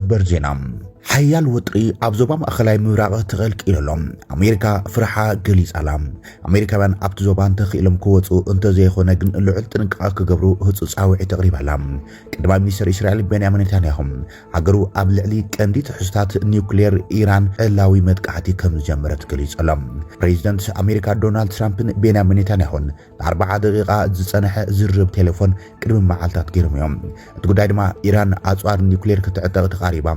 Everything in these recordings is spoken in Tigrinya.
ሰበር ዜና ሓያል ወጥሪ ኣብ ዞባ ማእኸላይ ምብራቕ ተቐልቂሉ ኣሎ። ኣሜሪካ ፍርሓ ገሊጻ'ላ። ኣሜሪካውያን ኣብቲ ዞባ እንተኽኢሎም ክወጹ እንተዘይኾነ ግን ልዑል ጥንቃቐ ክገብሩ ህጹጽ ጻውዒት ኣቕሪባ'ላ። ቀዳማይ ሚኒስተር እስራኤል ቤንያሚን ኔታንያሁ ሃገሩ ኣብ ልዕሊ ቀንዲ ትሕዝቶታት ኒውክሌር ኢራን ዕላዊ መጥቃዕቲ ከምዝጀመረት ገሊጹ'ሎ። ፕሬዚደንት ኣሜሪካ ዶናልድ ትራምፕን ቤንያሚን ኔታንያሁን ንኣርብዓ ደቒቓ ዝጸንሐ ዝርርብ ቴሌፎን ቅድሚ መዓልታት ገይሮም እዮም። እቲ ጉዳይ ድማ ኢራን ኣጽዋር ኒውክሌር ክትዕጠቕ ተቓሪባ፣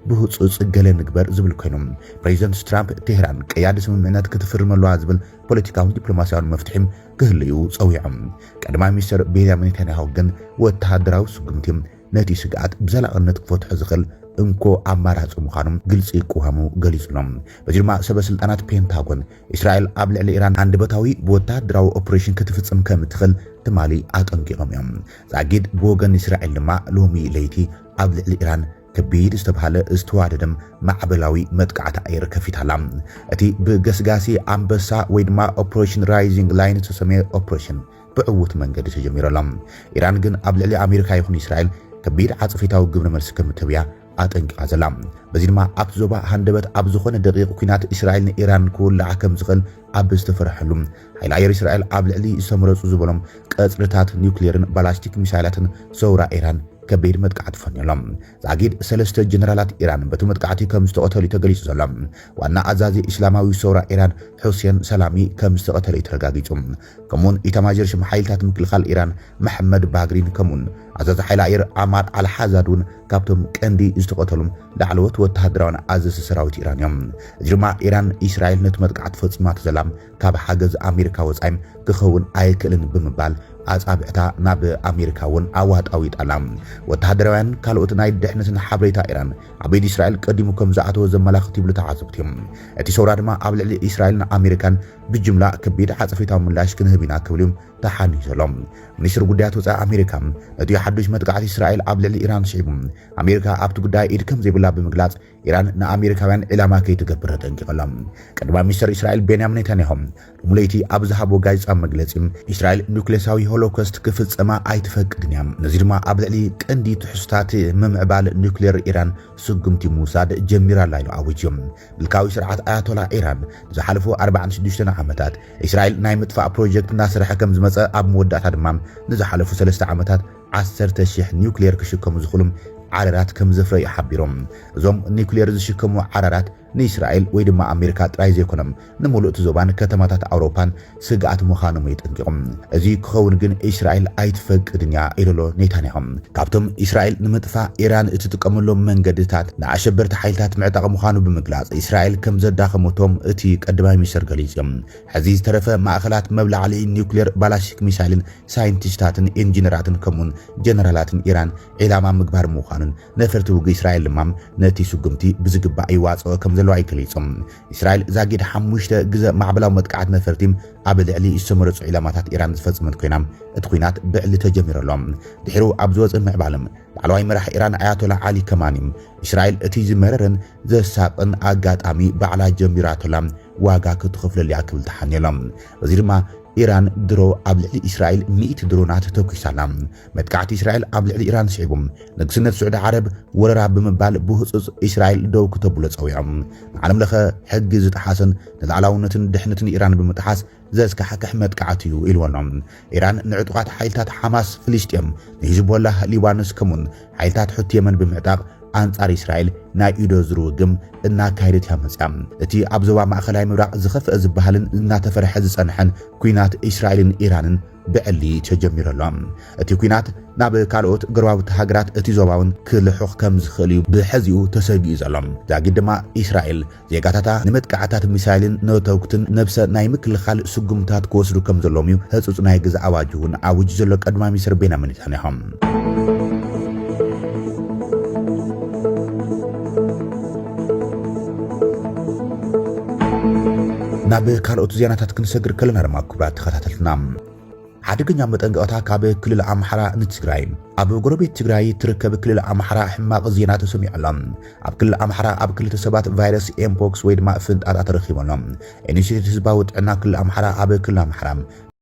ብህጹጽ ገለ ንግበር ዝብል ኮይኑ፣ ፕሬዚደንት ትራምፕ ቴህራን ቀያዲ ስምምዕነት ክትፍርም ኣለዋ ዝብል ፖለቲካውን ዲፕሎማስያውን መፍትሒ ክህሉ እዩ ጸዊዑ። ቀዳማይ ሚኒስተር ቤንያሚን ኔታንያሁ ግን ወተሃደራዊ ስጉምቲ ነቲ ስግኣት ብዘላቕነት ክፈትሖ ዝኽእል እንኮ ኣማራጺ ምዃኑ ግልጺ ቅዋሙ ገሊጹ ኣሎ። በዚ ድማ ሰበ ስልጣናት ፔንታጎን እስራኤል ኣብ ልዕሊ ኢራን ሃንደበታዊ ወተሃደራዊ ኦፕሬሽን ክትፍጽም ከም እትኽእል ትማሊ ኣጠንቂቖም እዮም። ዛጊድ ብወገን እስራኤል ድማ ሎሚ ለይቲ ኣብ ልዕሊ ኢራን ከቢድ ዝተብሃለ ዝተዋደደም ማዕበላዊ መጥቃዕቲ ኣየር ከፊታ ኣላ። እቲ ብገስጋሲ ኣንበሳ ወይ ድማ ኦፕሬሽን ራይዚንግ ላይን ዝተሰምየ ኦፕሬሽን ብዕዉት መንገዲ ተጀሚሩ ኣሎ። ኢራን ግን ኣብ ልዕሊ ኣሜሪካ ይኹን እስራኤል ከቢድ ዓጸፌታዊ ግብረ መልሲ ከም እትህብ እያ ኣጠንቂቓ ዘላ። በዚ ድማ ኣብቲ ዞባ ሃንደበት ኣብ ዝኾነ ደቒቕ ኲናት እስራኤል ንኢራን ክውላዕ ከም ዝኽእል ኣብ ዝተፈርሐሉ፣ ሓይሊ ኣየር እስራኤል ኣብ ልዕሊ ዝተመረጹ ዝበሎም ቀጽርታት ኒዩክሌርን ባላስቲክ ሚሳይላትን ሰውራ ኢራን ከቢድ መጥቃዕቲ ፈንዩ ኣሎ። ዛጊድ ሰለስተ ጀነራላት ኢራን በቲ መጥቃዕቲ ከም ዝተቐተሉ'ዩ ተገሊጹ ዘሎ። ዋና ኣዛዚ እስላማዊ ሰውራ ኢራን ሑሴን ሰላሚ ከም ዝተቐተለ'ዩ ተረጋጊጹ። ከምኡውን ኢታማዦር ሹም ሓይልታት ምክልኻል ኢራን መሕመድ ባግሪን ከምኡውን ኣዛዚ ሓይሊ ኣየር ዓማር ኣልሓዛድ እውን ካብቶም ቀንዲ ዝተቐተሉ ላዕለዎት ወተሃደራውያን ኣዘዝቲ ሰራዊት ኢራን እዮም። እዚ ድማ ኢራን ኢስራኤል ነቲ መጥቃዕቲ ፈጺማቶ ዘላ ካብ ሓገዝ ኣሜሪካ ወጻኢ ክኸውን ኣይክእልን ብምባል ኣጻብዕታ ናብ ኣሜሪካ እውን ኣዋጣዊጣ ኣላ። ወተሃደራውያን ካልኦት ናይ ድሕነትን ሓበሬታ ኢራን ኣብ ኢድ ኢስራኤል ቀዲሙ ከም ዝኣተወ ዘመላኽት ይብሉ ተዓዘብቲ። እቲ ሰውራ ድማ ኣብ ልዕሊ ኢስራኤልን ኣሜሪካን ብጅምላ ከቢድ ዓጸፌታዊ ምላሽ ክንህብ ኢና ክብል እዩ ተሓንዩ ዘሎ። ሚኒስትሪ ጉዳያት ወጻኢ ኣሜሪካ ነቲ ሓዱሽ መጥቃዕቲ እስራኤል ኣብ ልዕሊ ኢራን ስዒቡ ኣሜሪካ ኣብቲ ጉዳይ ኢድ ከምዘይብላ ብምግላጽ ኢራን ንኣሜሪካውያን ዒላማ ከይትገብር ኣጠንቂቐላ። ቀዳማይ ሚኒስትር እስራኤል ቤንያሚን ኔታንያሁ ሎሚ ለይቲ ኣብ ዝሃቦ ጋዜጣዊ መግለጺ እስራኤል ኑክሌሳዊ ሆሎኮስት ክፍጸማ ኣይትፈቅድን እያ፣ ነዚ ድማ ኣብ ልዕሊ ቀንዲ ትሕዝቶታት ምምዕባል ኑክሌር ኢራን ስጉምቲ ምውሳድ ጀሚራ ኣላ ኢሉ ኣዊጁ። ምልካዊ ስርዓት ኣያቶላ ኢራን ንዝሓለፉ ኣርባዓን ሽዱሽተን ዓመታት እስራኤል ናይ ምጥፋእ ፕሮጀክት እናሰርሐ ከም ዝመጸ ኣብ መወዳእታ ድማ ንዝሓለፉ ሰለስተ ዓመታት ዓሰርተ ሽሕ ኒውክሌር ክሽከሙ ዝኽእሉ ዓረራት ከም ዘፍረዩ ሓቢሮም። እዞም ኒውክሌር ዝሽከሙ ዓራራት ንእስራኤል ወይ ድማ ኣሜሪካ ጥራይ ዘይኮነም ንምሉእቲ ዞባን ከተማታት ኣውሮፓን ስግኣት ምኻኖም የጠንቂቑም። እዚ ክኸውን ግን እስራኤል ኣይትፈቅድን እያ ኢሉ'ሎ ኔታንያሁ። ካብቶም እስራኤል ንምጥፋእ ኢራን እትጥቀመሎም መንገድታት ንኣሸበርቲ ሓይልታት ምዕጣቕ ምኻኑ ብምግላጽ እስራኤል ከም ዘዳኸመቶ እቲ ቀዳማይ ሚኒስተር ገሊጹ። ሕዚ ዝተረፈ ማእኸላት መብላዕልዒ ኒውክሌር፣ ባላስቲክ ሚሳይልን ሳይንቲስታትን ኢንጂነራትን ከምኡ'ውን ጀነራላትን ኢራን ዒላማ ምግባር ምዃኑን ነፈርቲ ውግእ እስራኤል ድማ ነቲ ስጉምቲ ብዝግባእ ይዋጽኦ ከም ዘለዋ እዩ ገሊጹ። እስራኤል ዛጊድ ሓሙሽተ ግዘ ማዕበላዊ መጥቃዕት ነፈርቲ ኣብ ልዕሊ ዝተመረጹ ዒላማታት ኢራን ዝፈጸመት ኮይና እቲ ኩናት ብዕሊ ተጀሚሩ ኣሎ። ድሒሩ ኣብ ዝወጸ ምዕባለ ላዕለዋይ መራሒ ኢራን ኣያቶላ ዓሊ ከማኒ እስራኤል እቲ ዝመረረን ዘሳቕን ኣጋጣሚ ባዕላ ጀሚራቶላ ዋጋ ክትኸፍለሉ እያ ክብል ተሓንዮ ኣሎ። በዚ ድማ ኢራን ድሮ ኣብ ልዕሊ እስራኤል ሚእቲ ድሮናት ተኲሳ ኣላ። መጥቃዕቲ እስራኤል ኣብ ልዕሊ ኢራን ስዒቡ፣ ንግስነት ስዑዲ ዓረብ ወረራ ብምባል ብህጹጽ እስራኤል ደው ክተብሎ ጸዊዖም። ንዓለም ለኸ ሕጊ ዝጠሓሰን ንላዕላውነትን ድሕንትን ኢራን ብምጥሓስ ዘስካሕክሕ መጥቃዕቲ እዩ ኢልዎ ኣሎ። ኢራን ንዕጡቓት ሓይልታት ሓማስ ፍልስጤም፣ ንሂዝቦላህ ሊባኖስ ከምኡ'ውን ሓይልታት ሑቲ የመን ብምዕጣቕ ኣንጻር እስራኤል ናይ ኢዶ ዝርውግም እናካየደት እያ መጽያ። እቲ ኣብ ዞባ ማእከላይ ምብራቕ ዝኸፍአ ዝበሃልን እናተፈርሐ ዝጸንሐን ኲናት እስራኤልን ኢራንን፣ ብዕሊ ተጀሚሩ ኣሎ። እቲ ኲናት ናብ ካልኦት ጎረባብቲ ሃገራት እቲ ዞባ እውን ክልሑኽ ከም ዝኽእል እዩ ብሕዚኡ ተሰጊኡ ዘሎ። ዛጊድ ድማ እስራኤል ዜጋታታ ንመጥቃዕትታት ሚሳይልን ነተጕትን ነብሰ ናይ ምክልኻል ስጕምትታት ክወስዱ ከም ዘለዎም እዩ ህጹጽ ናይ ገዛ ኣዋጅ እውን ኣዊጁ ዘሎ ቀዳማይ ሚኒስተር ቤንያሚን ኔታንያሁ። ናብ ካልኦት ዜናታት ክንሰግር ከለና ድማ ክቡራት ተኸታተልትና ሓደገኛ መጠንቀቕታ ካብ ክልል ኣምሓራ ንትግራይ ኣብ ጎረቤት ትግራይ ትርከብ ክልል ኣምሓራ ሕማቕ ዜና ተሰሚዑ ኣሎ። ኣብ ክልል ኣምሓራ ኣብ ክልተ ሰባት ቫይረስ ኤምፖክስ ወይ ድማ ፍንጣጣ ተረኺቡ ኣሎ። ኢኒሽቲቭ ህዝባዊ ጥዕና ክልል ኣምሓራ ኣብ ክልል ኣምሓራ